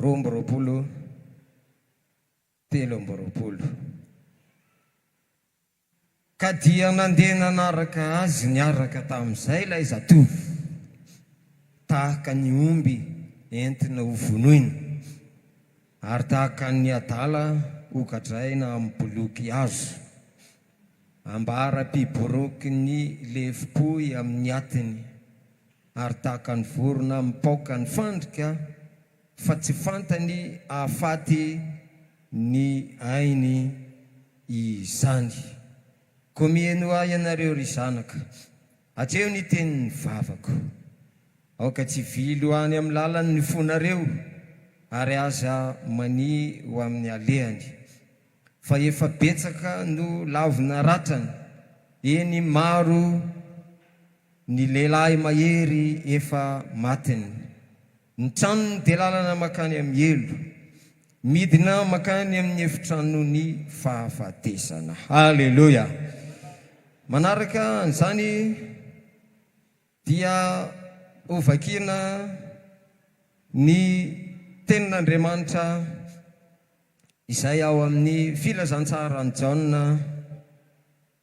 Roa amby roapolo, telo amby roapolo. Ka dia nandeha nanaraka azy niaraka tamin'izay ilay zatovo, tahaka ny omby entina ho vonoina, ary tahaka ny adala hogadraina amin'ny boloky hazo, ambara-piboroky ny lefom-pohy amin'ny atiny. Ary tahaka ny vorona mipaoka ny fandrika, fa tsy fantany hahafaty ny ainy izany. Koa miheno ahy ianareo, ry zanaka, atreho ny tenin'ny vavako. Aoka tsy hivily any amin'ny lalany ny fonareo, ary aza mania ho amin'ny alehany. Fa efa betsaka no lavina ratrany, eny, maro, Ny lehilahy mahery efa matiny. Ny tranony dia lalana mankany amin'ny helo. Midina mankany amin'ny efitranon'ny fahafatesana. Haleloia! Manaraka an'izany dia hovakiana ny Tenin'Andriamanitra izay ao amin'ny Filazantsaran'i Jaona.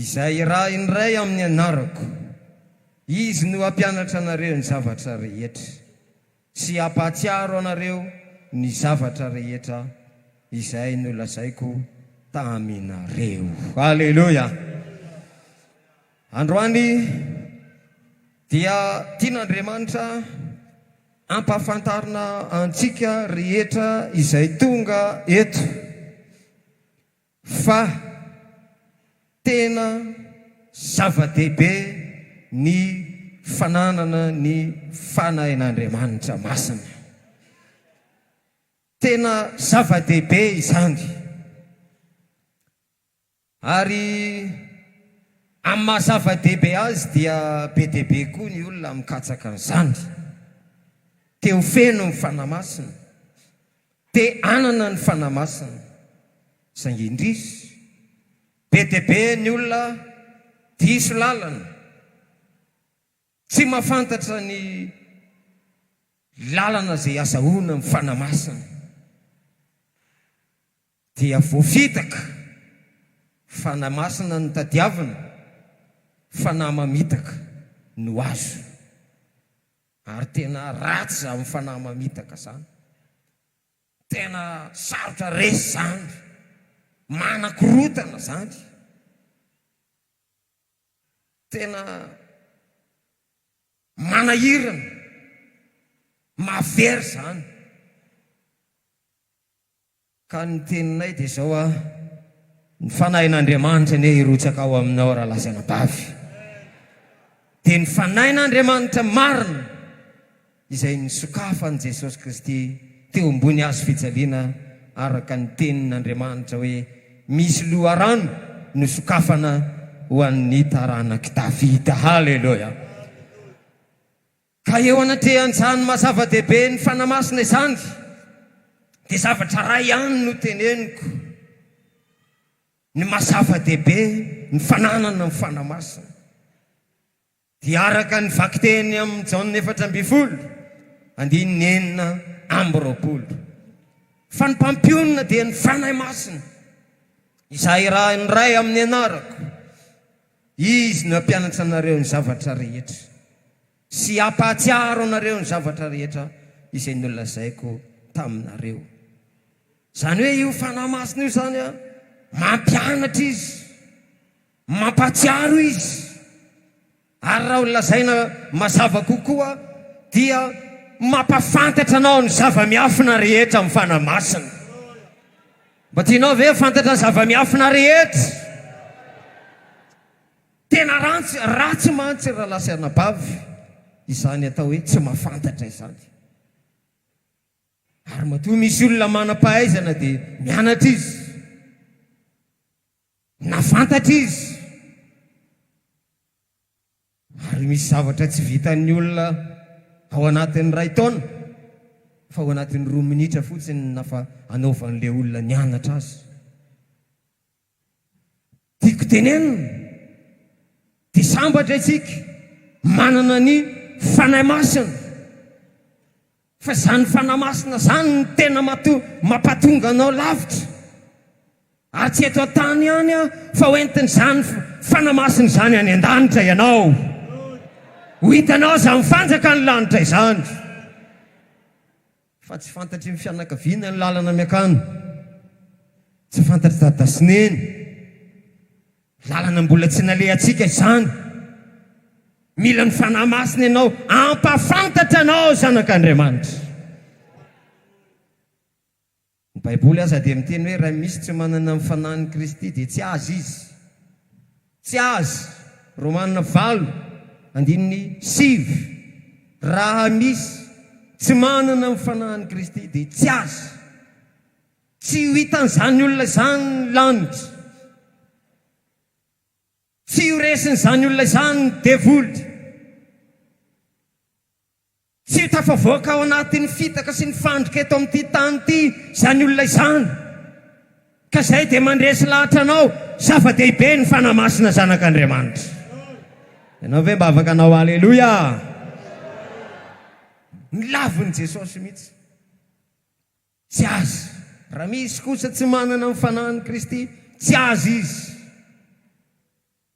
Izay iray indray amin'ny anarako, Izy no hampianatra anareo ny zavatra rehetra, sy hampahatsiaro anareo ny zavatra rehetra izay nolazaiko taminareo. Aleloia! Androany dia tian'Andriamanitra hampahafantarina antsika rehetra izay tonga eto, Fa tena zava-dehibe ny fananana ny Fanahin'Andriamanitra masina. Tena zava-dehibe izany. Ary amin'ny maha zava-dehibe azy dia be dia be koa ny olona mikatsaka an'izany. Te ho feno ny Fanahy Masina. Te hanana ny Fanahy Masina, saingy indrisy, be dia be ny olona diso lalana, tsy mahafantatra ny lalana izay azahoana amin'ny Fanahy Masina, dia voafitaka. Fanahy Masina no tadiavina, fanahy mamitaka no azo. Ary tena ratsy zany fanahy mamitaka zany. Tena sarotra resy zany. Manakorotana zany. Tena manahirana. Mahavery zany. Ka ny teninay dia izao a, ny fanahin'Andriamanitra anie hirotsaka ao aminao Ralazanabavy. Dia ny fanahin'Andriamanitra marina izay nisokafan'i Jesosy Kristy teo ambony hazo fijaliana araka ny tenin'Andriamanitra hoe misy loharano nosokafana ho an'ny taranak'i Davida. Haleloia! Ka eo anatrehan'izany maha zava-dehibe ny Fanahy Masina izany dia zavatra iray ihany no teneniko, ny maha zava-dehibe ny fananana ny Fanahy Masina dia araka ny vakiteny amin'ny Jaona efatra ambin'ny folo andininy enina amby roapolo fa ny Mpampionona dia ny Fanahy Masina izay irahan'ny Ray amin'ny anarako. Izy no hampianatra anareo ny zavatra rehetra sy hampahatsiaro anareo ny zavatra rehetra izay nolazaiko taminareo. Izany hoe io Fanahy Masina io izany, mampianatra Izy, mampahatsiaro Izy. Ary raha holazaina mazava kokoa, dia mampahafantatra anao ny zava-miafina rehetra amin'ny Fanahy Masina. Mba tianao ve ho fantatra ny zava-miafina rehetra? Tena rantsy, ratsy mantsy rahalahy sy anabavy izany atao hoe tsy mahafantatra izany. Ary matoa misy olona manam-pahaizana dia nianatra izy, na fantatra izy. Ary misy zavatra tsy vitan'ny olona ao anatin'ny iray taona fa ao anatin'ny roa minitra fotsiny nafa anaovan'ilay olona nianatra azy. Tiako tenenina dia sambatra isika manana ny Fanahy Masina. Fa izany Fanahy Masina izany no tena mampatonga anao lavitra. Ary tsy eto an-tany ihany an, fa ho entin'izany Fanahy Masina izany any an-danitra ianao. Ho hitanao izany fanjakan'ny lanitra izany. Fa tsy fantatry ny fianakaviana ny lalana miakany. Tsy fantatr'i dada sy neny. Lalana mbola tsy nalehantsika izany. Mila ny Fanahy Masina ianao hampahafantatra anao zanak'Andriamanitra. Ny Baiboly aza dia miteny hoe raha misy tsy manana ny Fanahin'i Kristy dia tsy azy izy. Tsy azy. Romana valo andininy sivy, Raha misy tsy manana ny Fanahin'i Kristy dia tsy azy. Tsy ho hitan'izany olona izany ny lanitra. Tsy ho resin'izany olona izany ny devoly. Tsy ho tafavoaka ao anatin'ny fitaka sy ny fandrika eto amin'ity tany ity izany olona izany. Ka izay dia mandresy lahatra anao, zava-dehibe ny Fanahy Masina Zanak'Andriamanitra. Ianao ve mba afaka hanao Aleloia? Ny lavin'i Jesosy mihitsy. Tsy azy. Raha misy kosa tsy manana ny Fanahin'i Kristy, tsy azy izy.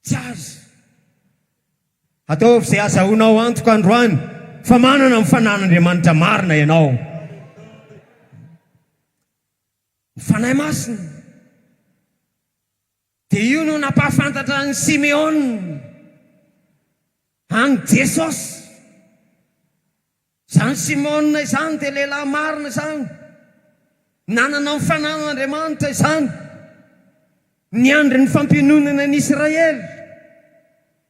Tsy azy. Ataovy izay hazahoanao antoka androany fa manana ny Fanahin'Andriamanitra marina ianao. Ny Fanahy Masina. Dia io no nampahafantatra an'i Simeona an'i Jesosy. Izany Simeona izany dia lehilahy marina izany, nanana ny fananan'Andriamanitra izany, niandry ny fampiononana ny Israely.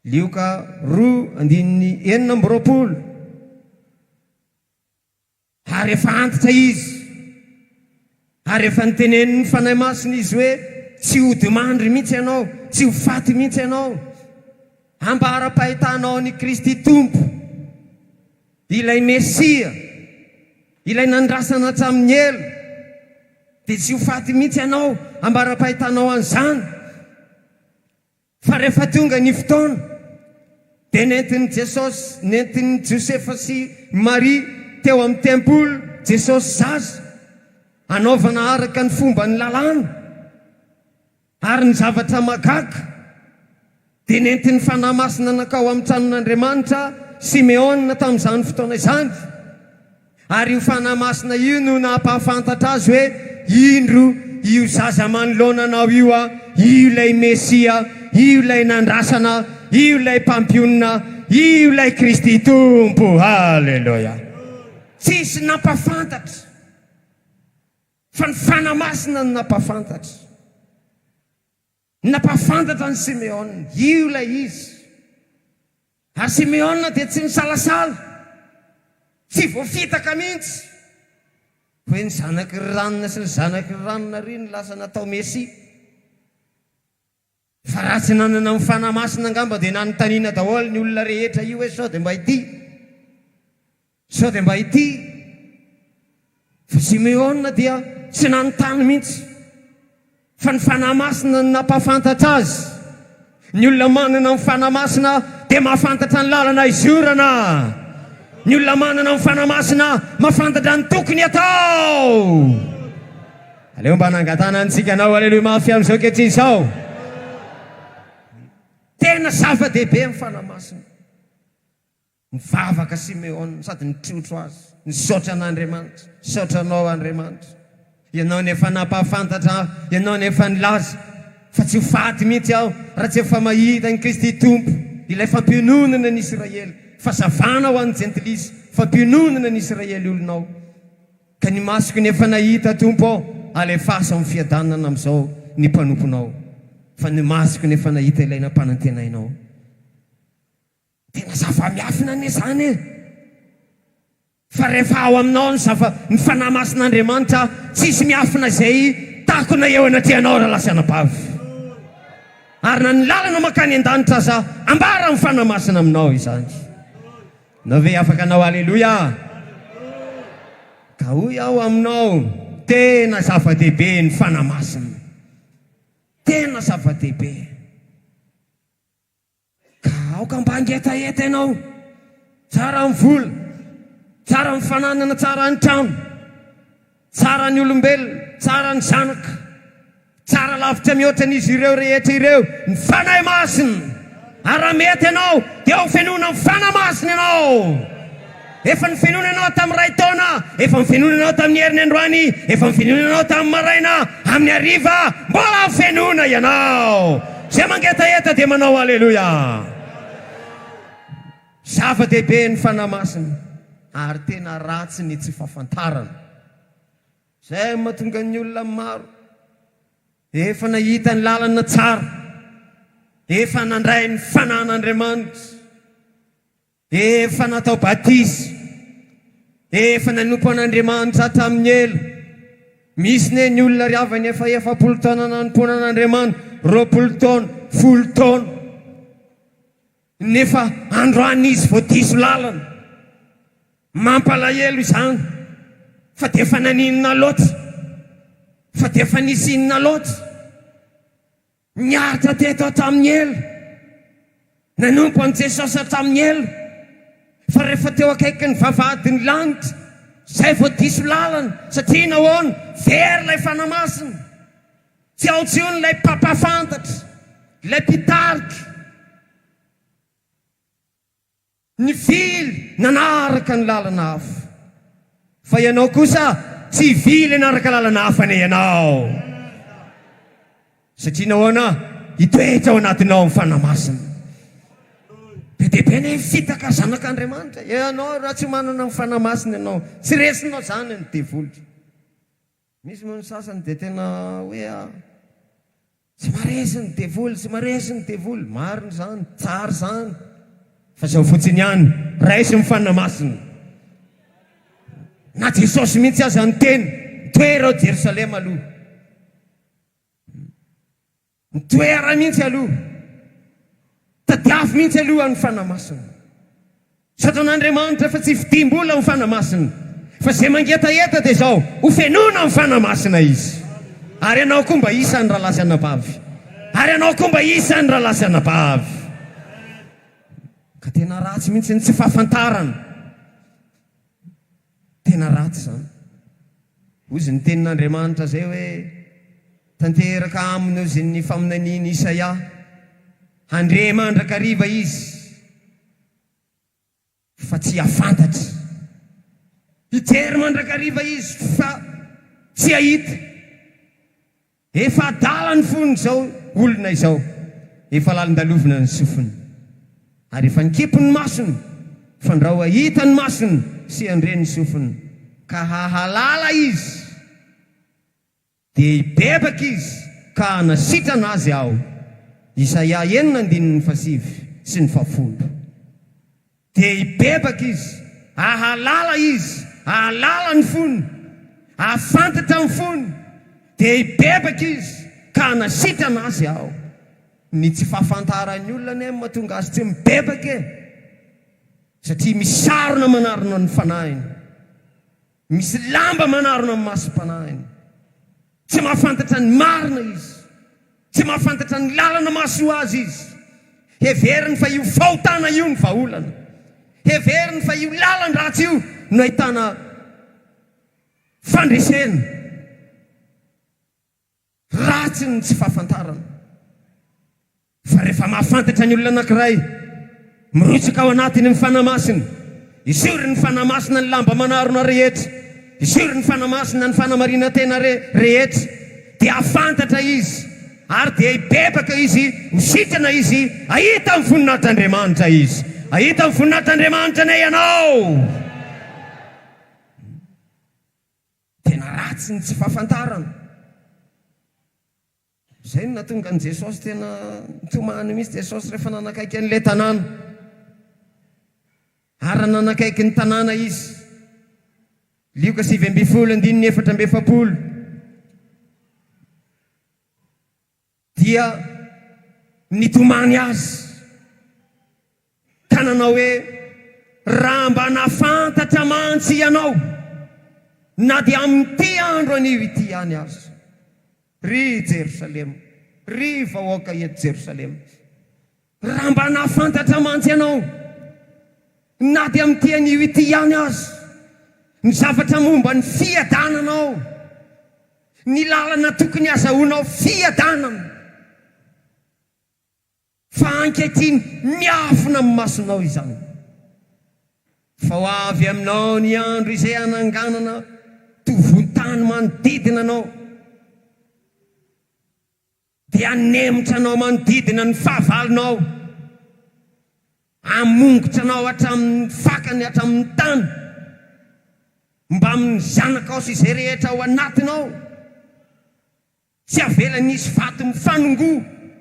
Lioka roa andininy enina amby roapolo. Ary efa antitra izy. Ary efa notenenin'ny Fanahy Masina izy hoe, Tsy hodimandry mihitsy ianao, tsy ho faty mihitsy ianao. Ambara-pahitanao an'i Kristy Tompo, ilay Mesia, ilay nandrasana hatramin'ny ela, dia tsy ho faty mihitsy ianao. Ambara-pahitanao an'izany. Fa rehefa tonga ny fotoana, dia nentin'i Jesosy, nentin'i Josefa sy Maria teo amin'ny tempoly Jesosy zaza, hanaovana araka ny fomban'ny lalàna. Ary ny zavatra mahagaga, dia nentin'ny Fanahy Masina nankao amin'ny tranon'Andriamanitra Simeona tamin'izany fotoana izany. Ary io Fanahy Masina io no nampahafantatra azy hoe, Indro, io zaza manoloana anao io, io ilay Mesia, io ilay nandrasana, io ilay Mpampionona, io ilay Kristy Tompo. Haleloia! Tsisy nampahafantatra fa ny Fanahy Masina no nampahafantatra. Nampahafantatra an'i Simeona io ilay izy, ary Simeona dia tsy nisalasala, tsy voafitaka mihitsy. Hoe ny zanaky ry ranona sy ny zanaky ry ranona ary no lasa natao Mesia. Fa raha tsy nanana ny Fanahy Masina angamba dia nanontaniana daholo ny olona rehetra io hoe sao dia mba ity. Sao dia mba ity fa Simeona dia tsy nanontany mihitsy fa ny Fanahy Masina no nampahafantatra azy. Ny olona manana ny Fanahy Masina dia mahafantatra ny lalana hizorana. Ny olona manana ny Fanahy Masina mahafantatra ny tokony atao. Aleo mba nangatana antsika anao aleloia mafy amin'izao ankehitriny sao. Tena zava-dehibe ny Fanahy Masina. Nivavaka Simeona sady nitrotro azy, Nisaotra an'Andriamanitra. Misaotra Anao, Andriamanitra. Ianao no efa nampahafantatra ahy. Ianao no efa nilaza fa tsy ho faty mihitsy aho raha tsy efa mahita an'i Kristy Tompo, ilay fampiononana ny Isiraely, fazavana ho an'ny Jentilisa, fampiononana ny Isiraely olonao. Ka ny masoko no efa nahita, Tompo ô, alefaso amin'ny fiadanana amin'izao ny mpanomponao, fa ny masoko no efa nahita ilay nampanantenainao. Tena zava-miafina anie izany e! Fa rehefa ao aminao ny zava, ny Fanahy Masin'Andriamanitra, tsisy miafina izay takona eo anatrehanao raha lasa anabavy. Ary na ny lalana mankany an-danitra aza ambaran'ny Fanahy Masina aminao izany. Ianao ve afaka anao Aleloia? Ka hoy aho aminao, tena zava-dehibe ny Fanahy Masina. Tena zava-dehibe. Ka aoka mba hangetaheta ianao, tsara ny vola, tsara ny fananana, tsara ny trano, tsara ny olombelona, tsara ny zanaka, tsara lavitra mihoatra an'izy ireo rehetra ireo ny Fanahy Masina, ary raha mety ianao dia ao am-fenoana ny Fanahy Masina ianao. Efa nifenonana aho tamin'ny iray taona, efa nifenonana aho tamin'ny heriny androany, efa nifenonana aho tamin'ny maraina, amin'ny hariva, mbola hafenoina ianao. Izay mangetaheta dia manao Aleloia. Zava-dehibe ny Fanahy Masina ary tena ratsy ny tsy fahafantarana. Izay mahatonga ny olona maro efa nahita ny lalana tsara, efa nandray ny Fanahin'Andriamanitra. Efa natao batisa, efa nanompo an'Andriamanitra hatramin'ny ela. Misy ne ny olona ry havana efa efapolo taona nanompoana an'Andriamanitra, roapolo taona, folo taona, nefa androany izy vao diso lalana. Mampalahelo izany, fa dia efa naninona loatra, fa dia efa nisy inona loatra. Niaritra teto aho tamin'ny ela. Nanompo an'i Jesosy aho tamin'ny ela. Fa rehefa teo akaikin'ny vavahadin'ny lanitra, izay vao diso lalana. Satria nahoana? Very ilay Fanahy Masina. Tsy ao intsony ilay mpampahafantatra, ilay mpitarika. Nivily nanaraka ny lalana hafa, fa ianao kosa tsy hivily hanaraka lalana hafa anie ianao, satria nahoana? Hitoetra ao anatinao ny Fanahy Masina. Be dia be ny fitaka zanak'Andriamanitra. Ianao raha tsy manana ny Fanahy Masina ianao, tsy resinao izany ny devoly. Misy moa ny sasany dia tena hoe a, tsy maresy ny devoly, tsy maresy ny devoly. Marina izany, tsara izany. Fa izao fotsiny ihany, raiso ny Fanahy Masina. Na Jesosy mihitsy aza niteny, mitoera ao Jerosalema aloha. Ny toerany mihitsy aloha. Tadiavo mihitsy aloha ny fanamasina. Misaotra an'Andriamanitra fa tsy fidiam-bola ny fanamasina. Fa izay mangetaheta dia izao, hofenoina amin'ny fanamasina izy. Ary ianao koa mba isan'ny rahalahy sy anabavy. Ary ianao koa mba isan'ny rahalahy sy anabavy. Ka tena ratsy mihitsy ny tsy fahafantarana. Tena ratsy izany. Hoy izy, Ny Tenin'Andriamanitra izay hoe, Tanteraka aminy hoy izy ny faminanian'i Isaia, Handre mandrakariva izy, fa tsy hahafantatra, hijery mandrakariva izy, fa tsy hahita. Efa adala ny fon' izao olona izao, efa lalin-dalovina ny sofiny, ary efa nikipy ny masony, fandrao hahita ny masony sy handre ny sofiny, ka hahalala izy, dia hibebaka izy ka hanasitrana azy Aho. Isaia enina andininy fahasivy sy ny fahafolo. Dia hibebaka izy, hahalala izy, hahalala ny fony, hahafantatra ny fony, dia hibebaka izy ka hanasitrana azy Aho. Ny tsy fahafantaran'ny olona anie no mahatonga azy tsy mibebaka e! Satria misarona manarona ny fanahiny. Misy lamba manarona ny masom-panahiny. Tsy mahafantatra ny marina izy. Tsy mahafantatra ny lalana mahasoa azy izy. Heveriny fa io fahotana io no vahaolana. Heveriny fa io lalan-dratsy io no ahitana fandresena. Ratsy ny tsy fahafantarana. Fa rehefa mahafantatra ny olona anankiray, mirotsaka ao anatiny ny Fanahy Masina. Esory ny Fanahy Masina ny lamba manarona rehetra. Esory ny Fanahy Masina ny fanamarinan-tena re, rehetra. Dia hahafantatra izy, ary dia hibebaka izy, ho sitrana izy, hahita ny voninahitr'Andriamanitra izy. Hahita ny voninahitr'Andriamanitra anie ianao! Tena ratsy ny tsy fahafantarana. Izay no nahatonga an'i Jesosy tena nitomany mihitsy Jesosy rehefa nanakaiky an'ilay tanàna. Ary raha nanakaiky ny tanàna Izy, Lioka sivy ambin'ny folo, andininy efatra amby efapolo, Dia nitomany azy ka nanao hoe, Raha mba nahafantatra mantsy ianao, na dia amin'ity andro anio ity ihany aza, ry Jerosalema, ry vahoaka eto Jerosalema! Raha mba nahafantatra mantsy ianao, na dia amin'ity anio ity ihany aza, ny zavatra momba ny fiadanana ao, ny lalana tokony hazahoanao fiadanana, fa ankehitriny miafina amin'ny masonao izany. Fa ho avy aminao ny andro izay hananganana tovontany manodidina anao. Dia hanemitra anao manodidina ny fahavalonao, hamongotra anao hatramin' ny fakany hatramin' ny tany, mbamin' ny zanakao sy izay rehetra ao anatinao, tsy havelany hisy vato mifanongo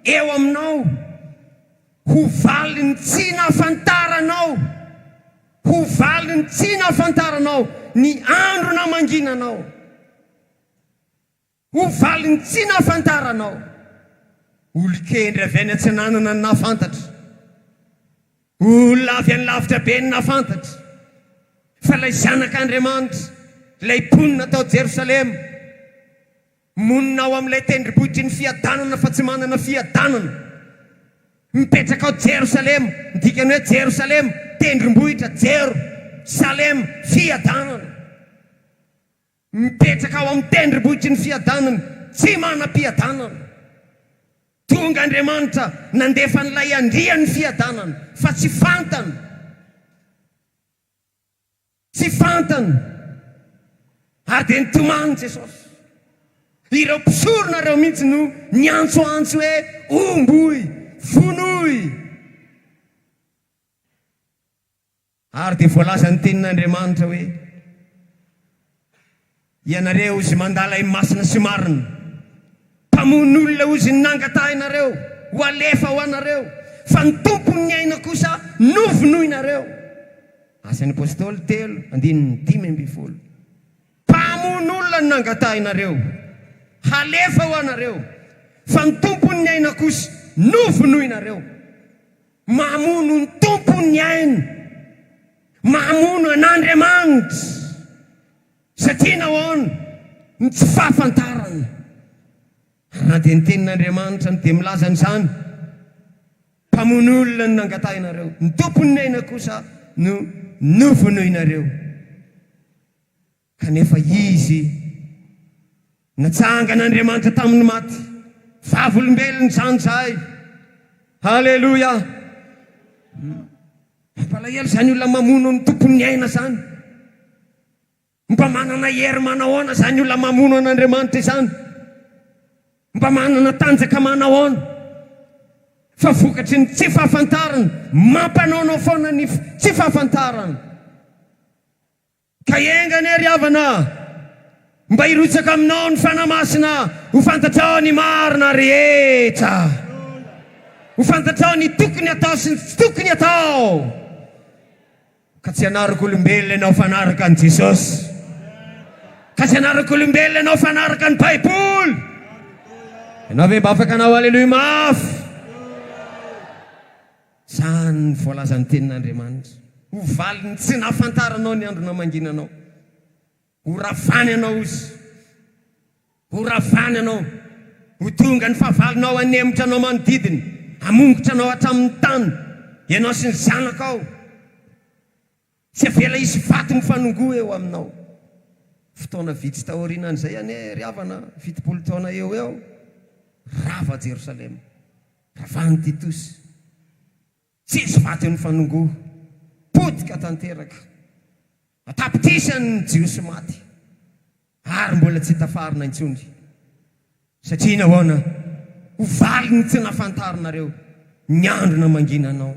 eo aminao, ho valin' ny tsy nahafantaranao, ho valin' ny tsy nahafantaranao ny andro namanginanao. Ho valin'ny tsy nahafantaranao. Olon-kendry avy any atsinanana ny nahafantatra. Olona avy any lavitra be ny nahafantatra fa ilay Zanak'Andriamanitra, ilay mponina tao Jerosalema, monina ao amin'ilay tendrombohitry ny fiadanana fa tsy manana fiadanana, mipetraka ao Jerosalema, ny dikany hoe Jerosalema, tendrombohitra, Jero, Salema, fiadanana. Mipetraka ao amin'ny tendrombohitry ny fiadanany tsy manam-piadanana. Tonga Andriamanitra nandefa an'ilay Andrian'ny fiadanana, fa tsy fantany. Tsy fantany. Ary dia nitomany Jesosy. Ireo mpisorona ireo mihitsy no niantsoantso hoe, Omboy! Vonoy! Ary dia voalaza ny tenin'Andriamanitra hoe, Ianareo ozy mandà ilay masina sy marina, mpamono olona ozy ny nangatahinareo ho alefa ho anareo, fa ny tompon'ny aina kosa novonoinareo. Asan'ny Apostoly telo andininy dimy ambin'ny folo. Mpamono olona ny nangatahinareo halefa ho anareo, fa ny tompon'ny aina kosa novonoinareo. Mamono ny Tompo ny ainy, mamono an'Andriamanitra. Satria nahoana? Ny tsy fahafantarana. Ary na dia ny Tenin'Andriamanitra no dia milaza an'izany, Mpamono olona no nangatahinareo, ny Tompon'ny aina kosa no novonoinareo. Kanefa Izy natsangana Andriamanitra tamin'ny maty, vavolombelony izany zahay. Haleloia! Mampalahelo izany olona mamono ny Tompon'ny aina izany. Mba manana hery manahoana izany olona mamono an'Andriamanitra izany? Mba manana tanjaka manahoana? Fa vokatry ny tsy fahafantarana, mampanaonao foana ny tsy fahafantarana. Ka enga anie ry havana a! Mba hirotsaka aminao ny Fanahy Masina ho fantatrao ny marina rehetra. Ho fantatrao ny tokony atao sy ny tsy tokony atao. Ka tsy hanaraka olombelona ianao fa hanaraka an'i Jesosy. Ka tsy hanaraka olombelona ianao fa hanaraka ny Baiboly. Ianao ve mba afaka hanao Aleloia mafy? Izany no voalazan'ny Tenin'Andriamanitra. Ho valin'ny tsy nahafantaranao ny andro namanginanao. Ho ravany anao ozy. Ho ravany anao. Ho tonga ny fahavalonao hanemotra anao manodidina, hamongotra anao hatramin'ny tany, ianao sy ny zanakao. Tsy avela hisy vato mifanongoa eo aminao. Fotoana vitsy taorianan'izay anie ry havana, fitopolo taona eo ho eo, rava Jerosalema. Ravahan'i Titosy. Tsy hisy vato mifanongoa. Potika tanteraka. An-tapitrisany ny Jiosy maty. Ary mbola tsy tafarina intsony, satria nahoana? Ho valiny tsy nafantarinareo ny andro namanginanao.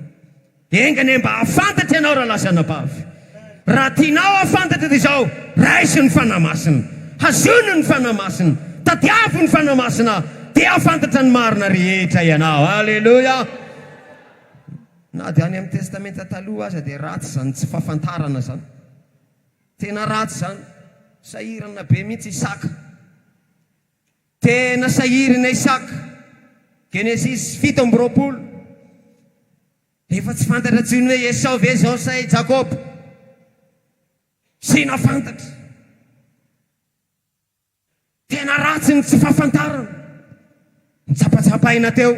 Enga anie mba hahafantatra ianao raha lasa anabavy. Raha tianao hahafantatra dia izao, raiso ny Fanahy Masina. Hazono ny Fanahy Masina. Tadiavo ny Fanahy Masina dia hahafantatra ny marina rehetra ianao. Aleloia! Na dia any amin'ny Testamenta Taloha aza dia ratsy izany tsy fahafantarana izany. Tena ratsy zany, sahirana be mintsy Isaka, tena sahirina Isaka, Genesis fito amby roapolo, efa tsy fantatra tsony hoe Esao ve zao sa i Jakoba, sina fantatra, tena ratsy ny tsy fafantarana, nitsapatsapahina teo.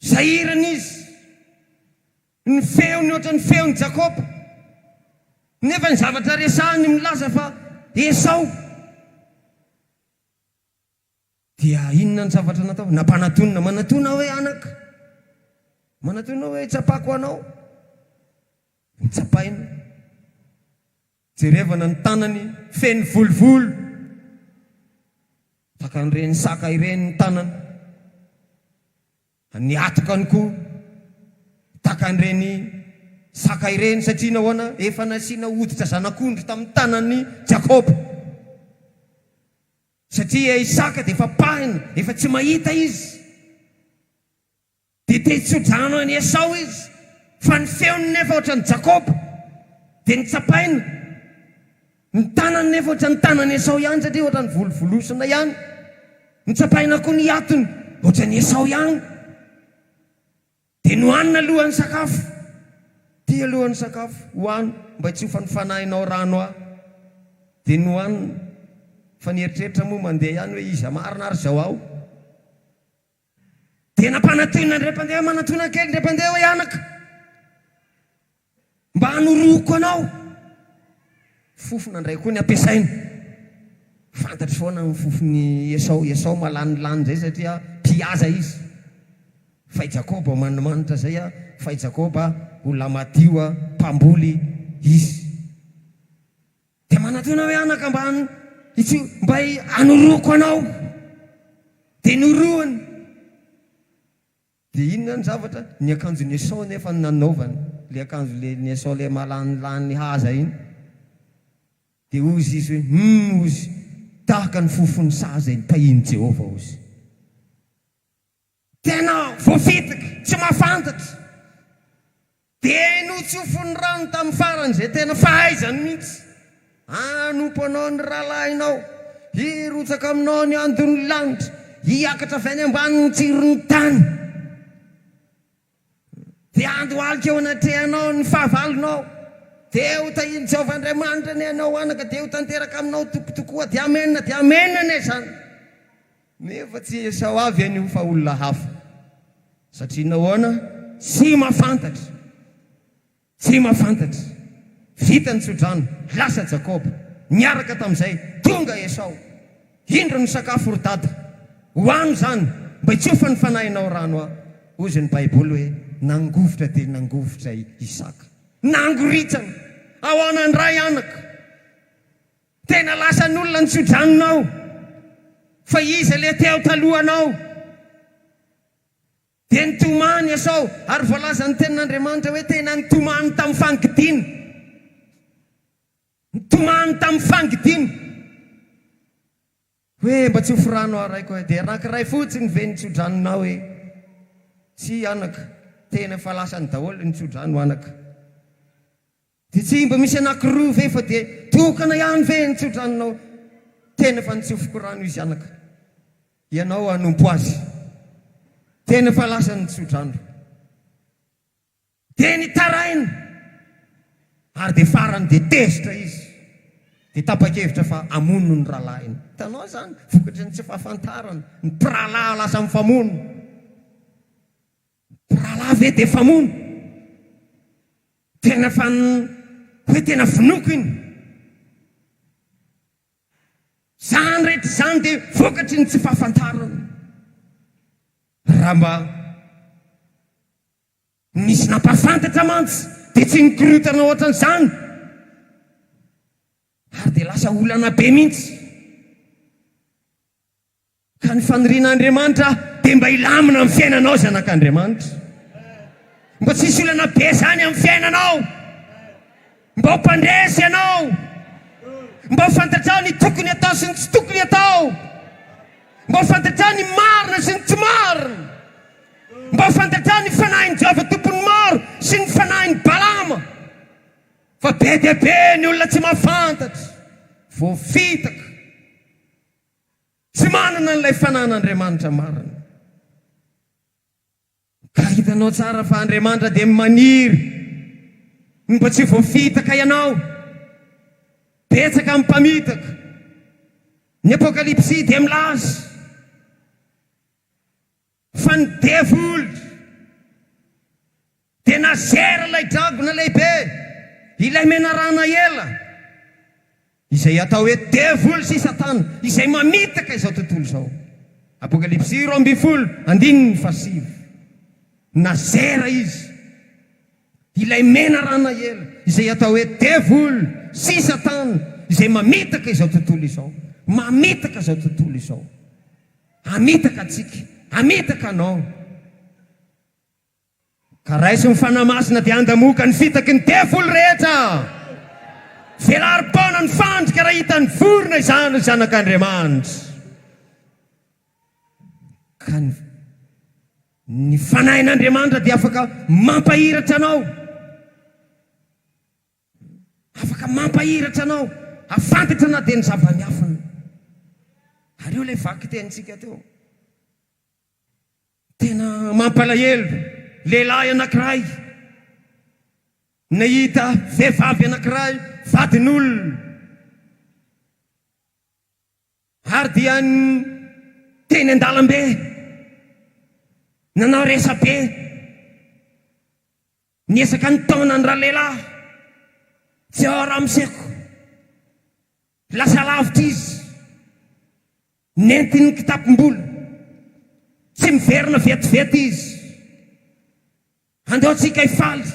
Sahirana izy. Ny feony ohatran'ny feon'i Jakoba. Nefa ny zavatra resahiny milaza fa Esao. Dia inona ny zavatra nataony? Nampanatonina, Manatona aho e anaka. Manatona aho hoe hitsapako anao. Notsapainy. Jerevana ny tanany feno volovolo. Tahaka an'ireny saka ireny ny tanana. Ny hatokany koa tahaka an'ireny saka ireny. Satria nahoana? Efa nasiana hoditra zanak'ondry tamin'ny tanan'i Jakoba. Satria Isaka dia efa pahina, efa tsy mahita izy. Dia te hitso-drano an'i Esao izy, fa ny feony nefa hoatran'i Jakoba, dia notsapainy. Ny tanany nefa hoatran'ny tanan'i Esao ihany, satria hoatran'ny volovolosina ihany. Notsapaina koa ny hiatony, hoatran'i Esao ihany. Dia nohanina alohan'ny sakafo. Ity aloha ny sakafo, hohano, mba hitsofa ny fanahinao rano ahy. Dia nohaniny, fa nieritreritra moa mandeha ihany hoe, Iza marina ary izao aho? Dia nampanatona an-dry mpandeha manatona kely an-dry mpandeha hoe, Anaka, mba hanoroako anao. Fofona indray koa ny ampiasainy. Fantatro foana ny fofon'i Esao. I Esao malanilany izay satria mpihaza izy. Fa i Jakoba manimanitra izay, fa i Jakoba olona madio, mpamboly izy. Dia manantena hoe, Anaka, mba hitso, mba hanoroako anao. Dia noroany. Dia inona ny zavatra? Ny akanjon'i Esao anefa no nanaovany, ilay akanjo lelin'i Esao ilay malanilany haza iny. Dia hozy izy hoe, Humm, hozy, tahaka ny fofon'ny saha izay nitahian'i Jehovah, hozy. Tena voafidik tsy mafantatra. Dia notsofin'ny rano tamin'ny farany izay tena fahaizany mihitsy. Hanompo anao ny rahalahinao, hirotsaka aminao ny andon'ny lanitra, hiakatra avy any ambanin'ny tsiron'ny tany. Dia handohalika eo anatrehanao ny fahavalonao, dia ho tahian'i Jehovah Andriamanitra anie ianao, anaka, dia ho tanteraka aminao toko tokoa. Dia Amena, dia Amena anie izany. Nefa tsy Esao avy anio fa olona hafa. Satria nahoana? Tsy mahafantatra. Jema fantatra. Vita ny tsodrano, lasa Jakoba. Niaraka tamin'izay, tonga Esao. Indro ny sakafo ry dada. Hohano izany, mba hitsofan'ny fanahinao rano aho. Hozy ny Baiboly hoe, Nangovitra dia nangovitra i Isaka. Nangoritsana. Ahoana indray anaka? Tena lasan'olona ny tsodranonao. Fa iza ilay teo talohanao? Dia nitomany Esao, ary voalazan'ny Tenin'Andriamanitra hoe tena nitomany tamin'ny fangidiana. Nitomany tamin'ny fangidiana. Hoe, Mba tsy ho forano aho raiko e. Dia anankiray fotsiny ve ny tsodranonao e? Tsia anaka, tena efa lasany daholo ny tsodranonao anaka. Dia tsy mba misy anankiroa ve fa dia tokana ihany ve ny tsodranonao? Tena efa nitsofoko rano izy anaka. Ianao hanompo azy. Tena efa lasa ny tsodrano. Dia nitaraina. Ary dia farany dia tezitra izy. Dia tapa-kevitra fa hamono ny rahalahiny. Hitanao izany? Vokatry ny tsy fahafantarana. Ny mpirahalahy lasa mifamono. Mpirahalahy ve dia mpamono? Tena fa ny hoe tena vonoiko iny. Izany rehetra izany dia vokatry ny tsy fahafantarana. Raha mba nisy nampahafantatra mantsy dia tsy nikorontana ohatran'izany ary dia lasa olana be mihitsy. Ka ny fanirian'Andriamanitra dia mba hilamina amin'ny fiainanao zanak'Andriamanitra. Mba tsy hisy olana be izany amin'ny fiainanao. Mba ho mpandresy ianao. Mba ho fantatrao ny tokony atao sy ny tsy tokony atao. Mba ho fantatrao ny marina sy ny tsy marina. Mba ho fantatrao ny fanahin'i Jehovah Tompon'ny maro sy ny fanahin'i Balama. Fa be dia be ny olona tsy mahafantatra. Voafitaka. Tsy manana an'ilay Fanahin'Andriamanitra marina. Ka hitanao tsara fa Andriamanitra dia maniry ny mba tsy voafitaka ianao. Betsaka ny mpamitaka. Ny Apokalypsy dia milaza. Fa ny devoly dia nazera ilay dragona lehibe, ilay menarana ela, izay atao hoe devoly sy Satana, izay mamitaka izao tontolo izao. Apokalypsy roa ambin'ny folo andininy fahasivy. Nazera izy, ilay menarana ela, izay atao hoe devoly sy Satana, izay mamitaka izao tontolo izao. Mamitaka izao tontolo izao. Hamitaka antsika, hamitaka anao. Ka raiso ny Fanahy Masina dia handamoka ny fitaky ny devoly rehetra. Velari-poana ny fandrika raha hitan'ny vorona izany ry zanak'Andriamanitra. Ka ny ny Fanahin'Andriamanitra dia afaka mampahiratra anao. Afaka mampahiratra anao hafantatra na dia ny zava-miafina. Ary io ilay vakitenintsika teo. Tena mampalahelo, lehilahy anankiray nahita vehivavy anankiray vadin'olona ary dia teny an-dalambe nanao resabe. Niezaka nitaona ny ralehilahy tsy ao Ramseko. Lasa lavitra izy. Nentiny ny kitapom-bola. Tsy miverina vetivety izy. Andeontsika hifaly.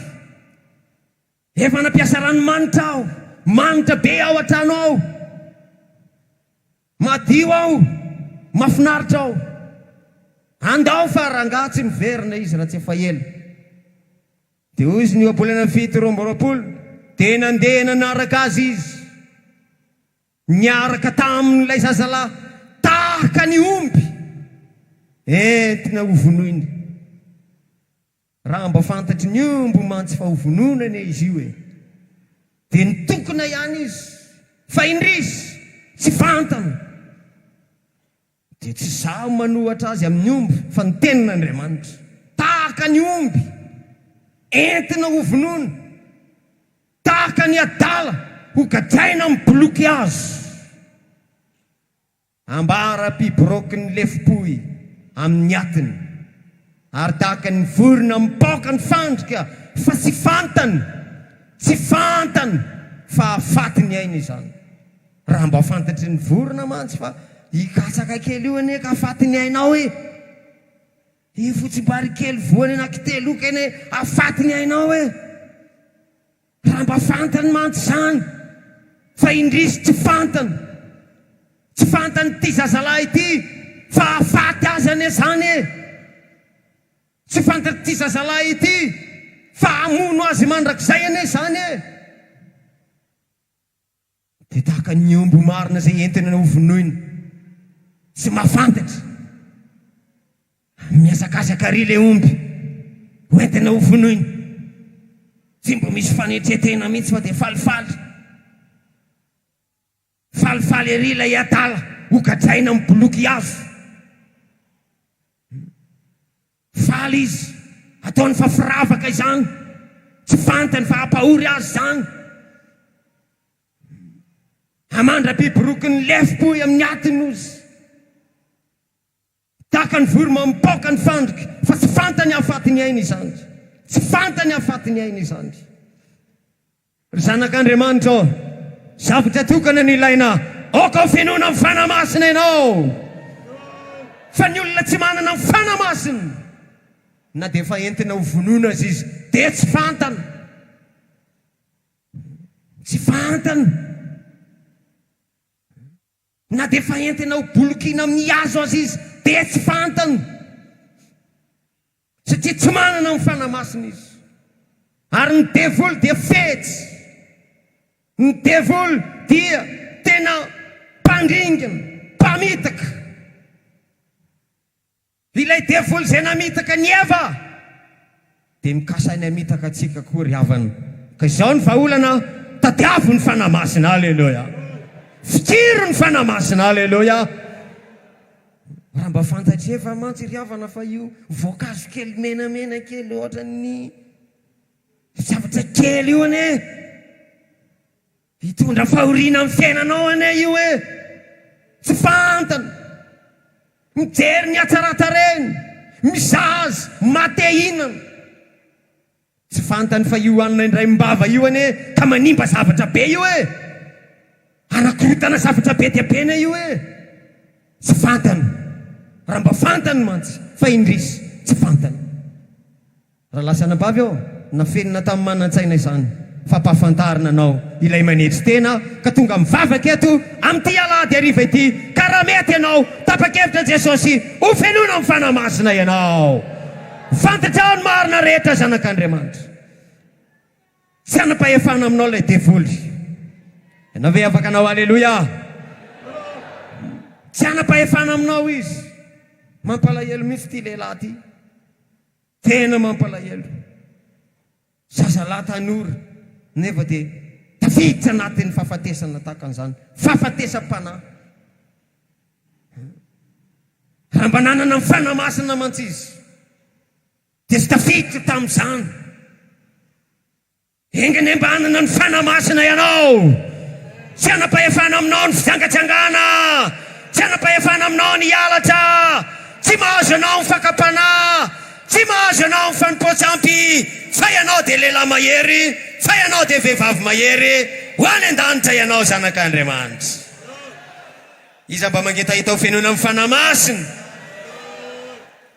Efa nampiasa ranomanitra aho. Manitra be ao an-trano ao. Madio aho, mafinaritra aho. Andao fa rangaha tsy miverina izy raha tsy efa ela. Dia hoy izy ny ohabolana fito roa amby roapolo dia nandeha nanaraka azy izy. Niaraka taminy ilay zazalahy tahaka ny omby entina hovonoina. Raha mba fantatry ny omby mantsy fa ho vonoina anie izy io e! Dia nitokona ihany izy, fa indrisy, tsy fantany! Dia tsy izaho manohatra azy amin'ny omby, fa ny Tenin'Andriamanitra. Tahaka ny omby entina ho vonoina, tahaka ny adala hogadraina amin'ny boloky azy. Ambara-piboroaky ny lefom-pohy amin' ny atiny, ary tahaka ny vorona mipaoka ny fandrika fa tsy fantany, tsy fantany fa hahafaty ny ainy izany. Raha mba fantatry ny vorona mantsy fa io katsaka kely io anie ka hahafaty ny ainao e! Io fotsim-bary kely voany anankitelo io kene hahafaty ny ainao e! Raha mba fantany mantsy izany fa indrisy tsy fantany, tsy fantan'ity zazalahy ity fa hahafaty azy anie izany e! Tsy fantatr'ity zazalahy ity fa hamono azy mandrakizay anie izany e! Dia tahaka ny omby marina izay entina hovonoina, tsy mahafantatra. Mihazakazaka àry ilay omby hoentina hovonoina, tsy mba misy fanetren-tena mihitsy fa dia falifaly. Falifaly àry ilay adala hogadraina amin'ny boloky hazo. Faly izy, ataony fa firavaka izany, tsy fantany fa hampahory azy izany. Hamandra-biby rokin'ny lefom-pohy amin'ny atiny ozy. Tahaka ny voromamy mipaoka ny fandrika, fa tsy fantany hahafaty ny ainy izany. Tsy fantany hahafaty ny ainy izany. Ry zanak'Andriamanitra ô, zavatra tokana no ilaina, aoka ho fenoina amin'ny Fanahy Masina ianao. Fa ny olona tsy manana ny Fanahy Masina, na dia efa entina ho vonoina aza izy, dia tsy fantany. Tsy fantany. Na dia efa entina ho bolokiana amin'ny hazo aza izy dia tsy fantany, satria tsy manana ny Fanahy Masina izy. Ary ny devoly dia fetsy. Ny devoly dia tena mpandringana, mpamitaka. Ilay devoly izay namitaka an'i Eva dia mikasa ny hamitaka antsika koa ry havana. Ka izao ny vahaolana, tadiavo ny Fanahy Masina. Aleloia! Fikiro ny Fanahy Masina. Aleloia! Raha mba fantatr'i Eva mantsy ry havana fa io voankazo kely menamena kely ohatran'ny zavatra kely io anie. Hitondra fahoriana amin'ny fiainanao anie io e! Tsy fantany. Mijery ny hatsaran-tarehiny, mizaha azy, mate hihinana. Tsy fantany fa io hanina indraim-bava io anie ka manimba zavatra be io e! Hanakorotana zavatra be dia be anie io e! Tsy fantany. Raha mba fantany mantsy fa indrisy tsy fantany. Ralazanabavy aho, nafenina tamin'ny manan-tsaina izany fampahafantarana anao ilay manetry tena aho ka tonga mivavaka eto amin'ity alahady hariva ity ka raha mety ianao tapa-kevitra Jesosy ho fenoina amin'ny Fanahy Masina ianao fantatrao ny marina rehetra zanak'Andriamanitra tsy hanam-pahefana aminao ilay devoly ianao ve afaka anao aleloia tsy hanam-pahefana aminao izy mampalahelo mihitsy ity lehilahy ity Tena mampalahelo. Zazalahy tanora nefa dia tafiditra anatin'ny fahafatesana tahaka an'izany. Fahafatesam-panahy. Raha mba nanana ny Fanahy Masina mantsy izy dia tsy tafiditra tamin'izany. Engene mba hanana ny Fanahy Masina ianao. Tsy hanam-pahefana aminao ny fijangajangana. Tsy hanam-pahefana aminao ny hialatra. Tsy mahazo anao ny fakam-panahy. Tsy mahazo anao ny fanompoan-tsampy. Fa ianao dia lehilahy mahery. Fa ianao dia vehivavy mahery. Ho any an-danitra ianao zanak'Andriamanitra. Iza mba mangetaheta ho fenoina amin'ny Fanahy Masina?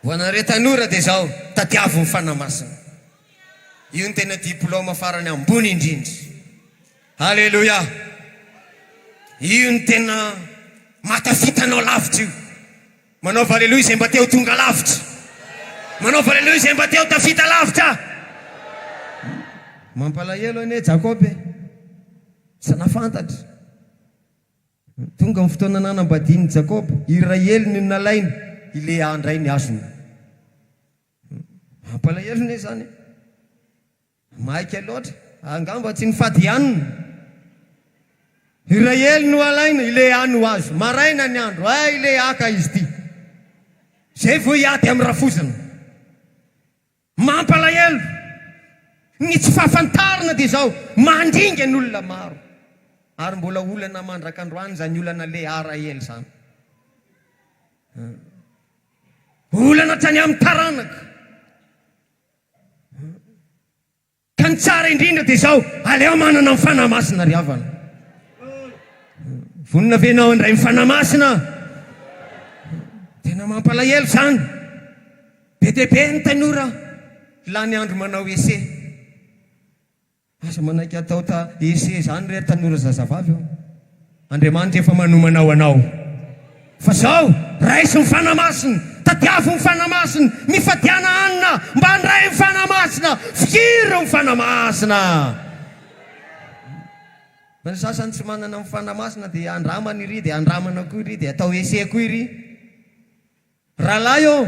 Ho anareo tanora dia izao, tadiavo ny Fanahy Masina. Io no tena diploma farany ambony indrindra. Aleloia! Io no tena mahatafita anao lavitra io. Manaova aleloia izay mba te ho tonga lavitra. Manaova aleloia izay mba te ho tafita lavitra. Mampalahelo anie Jakoba e! Tsy nafantatra. Tonga ny fotoana nanambadian'i Jakoba, i Rahely no nalainy, i Lea indray ny hasiny. Mampalahelo ne zany e! Maika loatra, angamba tsy nifady iann! Iray ely no alaina, ile any ho azo, maraina ny andro, hay ile haka izy ity! Zay vao hiady am rafozana! Mampalahelo! Ny tsy fahafantarana dia izao, mandringa ny olona maro! Ary mbola olana mandrak'androany izany olana le ara ely izany! Olana hatrany amin'ny taranaka. Ka ny tsara indrindra dia izao, aleo manana ny Fanahy Masina ry havana. Vonona ve ianao handray ny Fanahy Masina? Tena mampalahelo izany. Be dia be ny tanora lany andro manao essai. Aza manaiky atao ta ese izany re tanora zazavavy ô! Andriamanitra efa manomana ho anao. Fa izao, raiso ny Fanahy Masina, tadiavo ny Fanahy Masina, mifadiana hanina mba handray ny Fanahy Masina, fihiro ny Fanahy Masina. Fa ny sasany tsy manana ny Fanahy Masina dia andramana iry dia andramana koa iry dia atao ese koa iry. Rahalahy ô!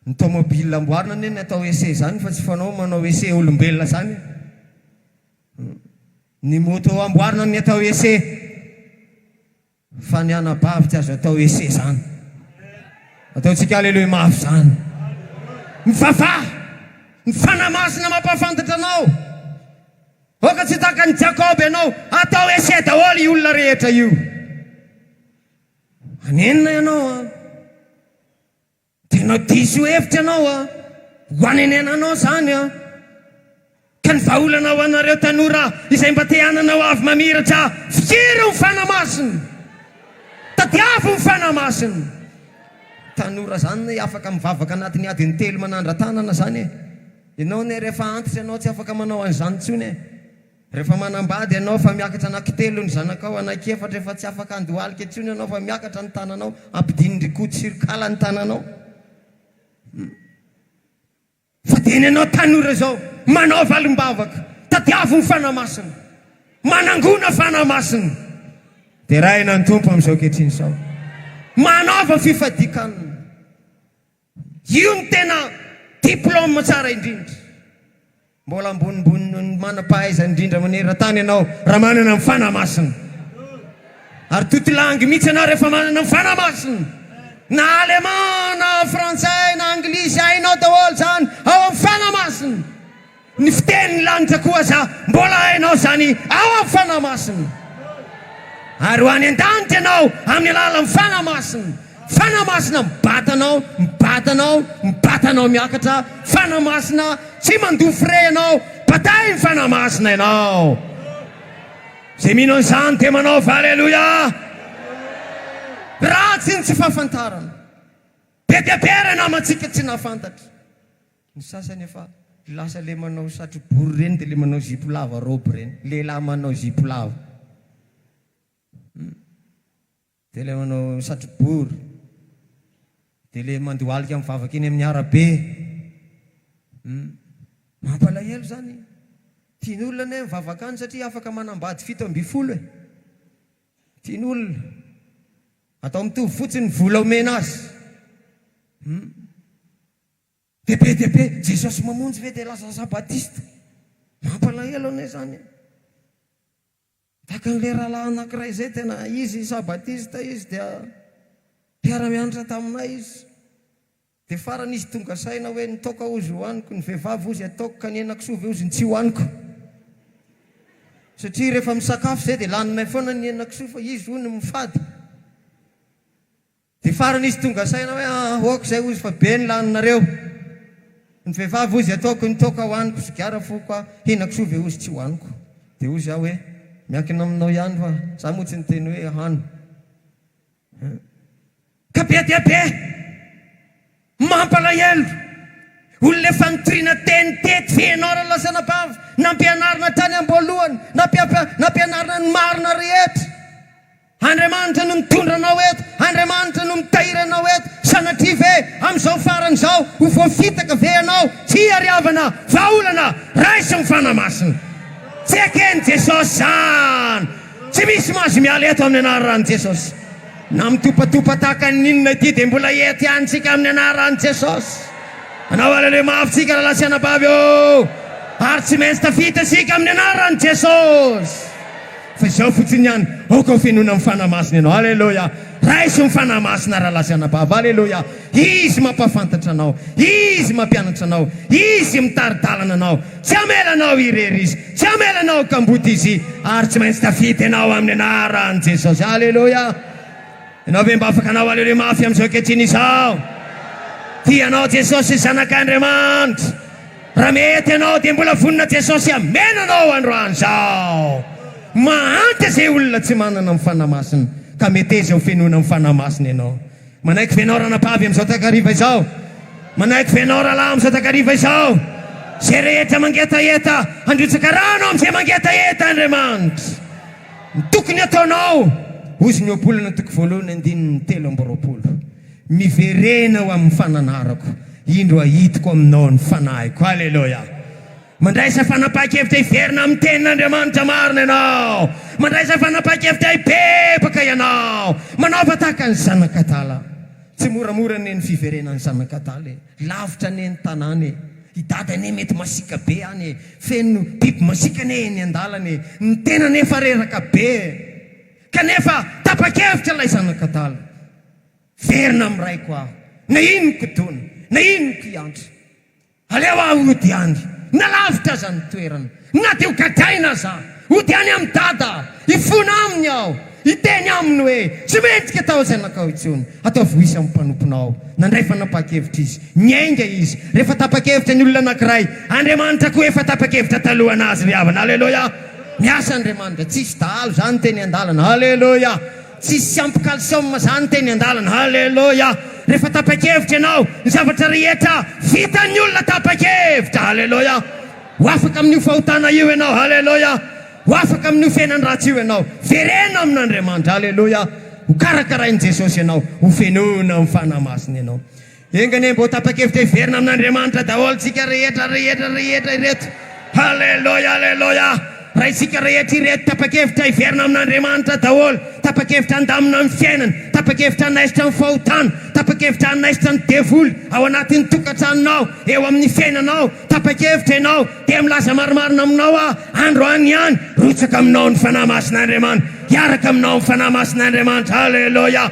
Ny tomobile amboarina anie ny atao essai zany fa tsy fanao manao essai olombelona zany e! Hum. Ny moto amboarina ny atao essai fa ny anabavy tsy azo atao essai zany. Ataontsika Alléluia mafy zany. Mivavaha! Ny Fanahy Masina mampahafantatra anao. Aoka tsy ho tahaka an'i Jakoba ianao. Atao essai daholo io olona rehetra io. Anenina ianao an! Tena diso hevitra ianao a! Ho anenenanao zany a! Ka ny vahaolana ho anareo tanora izay mba te hanana ho avy mamiratra, fiero ny fanahy masina! Tadiavo ny fanahy masina! Tanora zany anie afaka mivavaka anatin'ny adiny telo manandra-tanana zany e! Ianao anie rehefa antitra ianao tsy afaka manao an'izany intsony e! Rehefa manambady ianao fa miakatra anankitelo ny zanakao, anankiefatra, efa tsy afaka handohalika intsony ianao fa miakatra ny tananao, ampidinin-dry Koto sy ry Kala ny tananao. Hum. Fa dia nenao tanora izao, manao valim-bavaka, tadiavo ny Fanahy Masina, manangona Fanahy Masina. Derahina ny Tompo amin'izao ankehitriny izao. Manaova fifadian-kanina. Io no tena diplôme tsara indrindra. Mbola ambonimbony noho ny manam-pahaizana indrindra maneran-tany ianao raha manana ny Fanahy Masina. Ary totilangy mihitsy ianao rehefa manana ny Fanahy Masina. Na Allemand na Frantsay na Anglisy, hainao daholo izany ao amin'ny Fanahy Masina. Ny fitenin'ny lanitra koa aza mbola hainao izany ao amin'ny Fanahy Masina. Ary ho any an-danitra ianao amin'ny alalan'ny Fanahy Masina. Fanahy Masina mibata anao, mibata anao, mibata anao miakatra. Fanahy Masina tsy mandoa frais ianao. Batain'ny Fanahy Masina ianao. Izay mino an'izany dia manaova Aleloia. Ratsy ny tsy fahafantarana. Be dia be ireo namantsika tsy nahafantatra. Ny sasany efa lasa le manao satrobory ireny de le manao zipo lava robe ireny, lehilahy manao zipo lava de le manao satrobory de le mandohalika mivavaka eny amin'ny arabe hum mampalahelo zany, tian'olona anie mivavaka any satria afaka manambady fito ambin'ny folo e, tian'olona atao mitovy fotsiny ny vola omena azy hum. Dia be dia be Jesosy mamonjy ve dia lazalazà Batista? Mampalahelo anie izany e! Tahaka an'ilay rahalahy anankiray izay tena izy sa Batista izy dia mpiara-mianatra taminay izy. Dia farany izy tonga saina hoe ny toaka hozy hohaniko, ny vehivavy hozy ataoko ka ny henakisoa ve hozy no tsy hohaniko. Satria rehefa misakafo izay dia laninay foana ny henakisoa fa izy hono mifady. Dia farany izy tonga saina hoe, aah ok izay hozy fa be ny laninareo. Ny vehivavy hozy ataoko ny toaka ho aniko sigara foko aho, henako soa ve hozy tsy ho aniko. Dia hozy aho hoe, miankina aminao ihany fa za moa tsy niteny hoe hano. Ka be dia be! Mampalahelo! Olona efa nitoriana teny teto ve ianao Ralazana Bava? Nampianarina tany amboalohany, nampianarina ny marina rehetra. Andriamanitra no mitondra anao eto, Andriamanitra no mitahiry anao eto, sanatria ve amin'izao farany izao ho voafitaka ve ianao? Tsia ry havana, vahaolana raisin'ny Fanahy Masina. Tsy eken'i Jesosy izany. Tsy misy mahazo miala eto amin'ny anaran'i Jesosy. Na mitopatopa tahaka ny inona ity dia mbola ety ihany tsika amin'ny anaran'i Jesosy. Anao Haleloia mafy tsika rahalahy sy anabavy ô! Ary tsy maintsy tafita isika amin'ny anaran'i Jesosy. Fa izao fotsiny ihany, aoka ho fenoina amin'ny Fanahy Masina ianao. Haleloia! Raiso ny Fanahy Masina rahalahy sy anabavy. Haleloia! Izy mampahafantatra anao. Izy mampianatra anao. Izy mitari-dalana anao. Tsy hamela anao hirery Izy. Tsy hamela anao ho kamboty Izy. Ary tsy maintsy tafita ianao amin'ny anaran'i Jesosy. Aleloia! Ianao ve mba afaka hanao aleloia mafy amin'izao ankehitriny izao? Tia anao Jesosy zanak'Andriamanitra. Raha mety ianao dia mbola vonona Jesosy hamena anao androany izao. Mahantra izay olona tsy manana ny Fanahy Masina, ka meteza ho fenoina amin'ny Fanahy Masina ianao. Manaiky ve ianao ranabavy amin'izao takariva izao? Manaiky ve ianao rahalahy amin'izao takariva izao? Izay rehetra mangetaheta, handrotsaka rano amin'izay mangetaheta Andriamanitra. Ny tokony hataonao, hozy ny ohabolana toko voalohany andininy telo amby roapolo, Miverena ho amin'ny fananarako, indro ahitiko aminao ny fanahiko. Aleloia! Mandraisa fanapahan-kevitra hiverina amin'ny Tenin'Andriamanitra marina ianao. Mandraisa fanapahan-kevitra hibebaka ianao. Manaova tahaka ny zanak'adala. Tsy moramora anie ny fiverenan'ny zanak'adala e. Lavitra anie ny tanàna e. I Dada anie mety masiaka be any e. Feno biby masiaka anie eny an-dalana e. Ny tenany efa reraka be e. Kanefa tapa-kevitra ilay zanak'adala. Hiverina amin'ny Raiko aho, na inoko dona, na inoko hiantra. Aleo aho hody any, na lavitra aza ny toerana, na dia ho gadraina aza aho, hody any amin'i Dada aho, hifona aminy aho, hiteny aminy hoe, Tsy mendrika taho izay nakao intsony, ataovy ho izy amin'ny mpanomponao. Nandray fanapahan-kevitra izy. Niainga izy. Rehefa tapa-kevitra ny olona anankiray, Andriamanitra koa efa tapa-kevitra talohanazy ry havana. Aleloia! Miasa Andriamanitra. Tsy hisy dahalo izany teny an-dalana. Aleloia! Tsisy ampy calcium zany teny andalana. Haleloia! Rehefa tapa-kevitra ianao, ny zavatra rehetra vitan'ny olona tapa-kevitra. Haleloia! Ho afaka amin'io fahotana io ianao. Haleloia! Ho afaka amin'io fiainan-dratsy io ianao. Vereno amin'Andriamanitra. Haleloia! Ho karakarain'i Jesosy ianao. Ho fenoina amin'ny Fanahy Masina ianao. Enga anie mba ho tapa-kevitra hiverina amin'Andriamanitra daholo tsika rehetra rehetra rehetra ireto. Haleloia Aleloia Raintsika rehetra ireto tapa-kevitra hiverina amin'Andriamanitra daholo, tapa-kevitra handamina amin'ny fiainana, tapa-kevitra hanaisotra ny fahotana, tapa-kevitra hanaisotra ny devoly ao anatin'ny tokantranonao, eo amin'ny fiainanao, tapa-kevitra ianao dia milaza marimarina aminao aho androany ihany, rotsaka aminao ny Fanahy Masin'Andriamanitra, hiaraka aminao ny Fanahy Masin'Andriamanitra. Haleloia.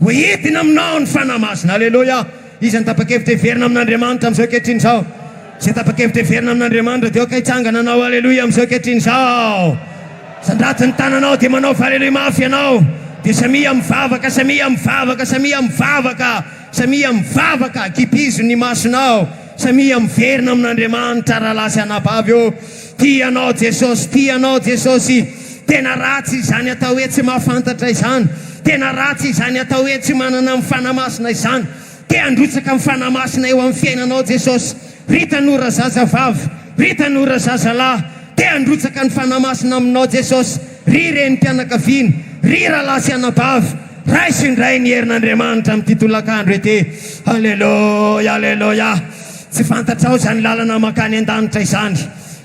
Ho hidina aminao ny Fanahy Masina. Aleloia! Iza no tapa-kevitra hiverina amin'Andriamanitra amin'izao ankehitriny izao? Izay tapa-kevitra hiverina amin'Andriamanitra dia aoka hitsangana hanao Aleloia amin'izao ankehitriny izao. Sandrato ny tananao dia manaova Aleloia mafy ianao. Dia samia mivavaka, samia mivavaka, samia mivavaka, samia mivavaka, kibizo ny masonao, samia miverina amin'Andriamanitra rahalahy sy anabavy ô. Tia anao Jesosy, tia anao Jesosy Tena ratsy izany atao hoe tsy mahafantatra izany, tena ratsy izany atao hoe tsy manana ny Fanahy Masina izany. Te handrotsaka ny Fanahy Masina eo amin'ny fiainanao Jesosy. Ry tanora zazavavy, ry tanora zazalahy, te handrotsaka ny Fanahy Masina aminao Jesosy. Ry renim-pianakaviana, ry rahalahy sy anabavy, raiso indray ny herin'Andriamanitra amin'ity tolakandro ity. Aleloia, aleloia. Tsy fantatrao izany lalana mankany an-danitra izany.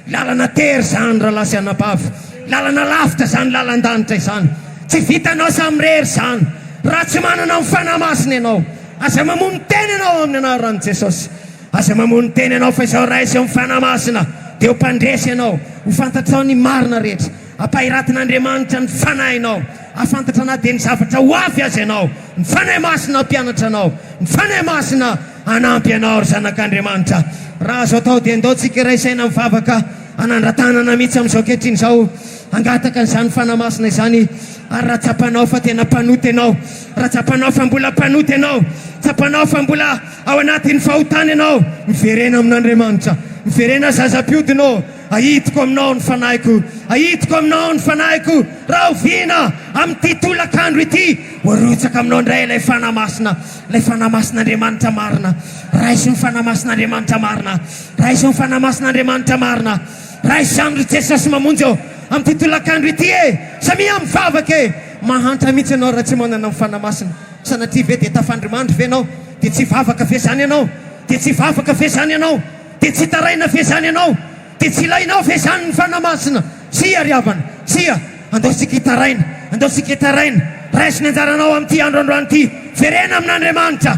Lalana tery izany, rahalahy sy anabavy. Lalana lavitra izany lalan-danitra izany. Tsy vitanao samirery izany, raha tsy manana ny Fanahy Masina ianao. Aza mamono tena ianao amin'ny anaran'i Jesosy. Aza mamono tena ianao fa izao raiso eo amin'ny Fanahy Masina dia ho mpandresy ianao. Ho fantatrao ny marina rehetra. Hampahiratin'Andriamanitra ny fanahinao. Hahafantatra na dia ny zavatra ho avy aza ianao. Ny Fanahy Masina hampianatra anao. Ny Fanahy Masina hanampy anao ry zanak'Andriamanitra. Raha azo atao dia ndao tsika hiray saina mivavaka hanandratanana mihitsy amin'izao ankehitriny izao. Hangataka an'izany Fanahy Masina izany. Ary raha tsapanao fa tena mpanota ianao. Raha tsapanao fa mbola mpanota ianao. Tsapanao fa mbola. Ao anatin'ny fahotana ianao, miverena amin'Andriamanitra. Miverena zazampiodina ô! Ahitiko aminao ny fanahiko, ahitiko aminao ny fanahiko. Rahoviana amin'ity tolakandro ity? Ho arotsaka aminao indray ilay Fanahy Masina, ilay Fanahy Masin'Andriamanitra marina. Raiso ny Fanahy Masin'Andriamanitra marina, raiso ny Fanahy Masin'Andriamanitra marina. Raiso izany ry Jesosy Mamonjy ô! Amin'ity tolakandro ity e! Samia mivavaka e! Mahantra mihitsy ianao raha tsy manana ny Fanahy Masina. Sanatria ve dia tafandrimandry ve ianao? Dia tsy hivavaka ve izany ianao? Dia tsy hivavaka ve izany ianao? Dia tsy hitaraina ve izany ianao? Dia tsy ilainao ve izany ny Fanahy Masina? Tsia, ry havana, tsia! Andao isika hitaraina! Andao isika hitaraina! Raiso ny anjaranao amin'ity andro androany ity! Verena amin'Andriamanitra!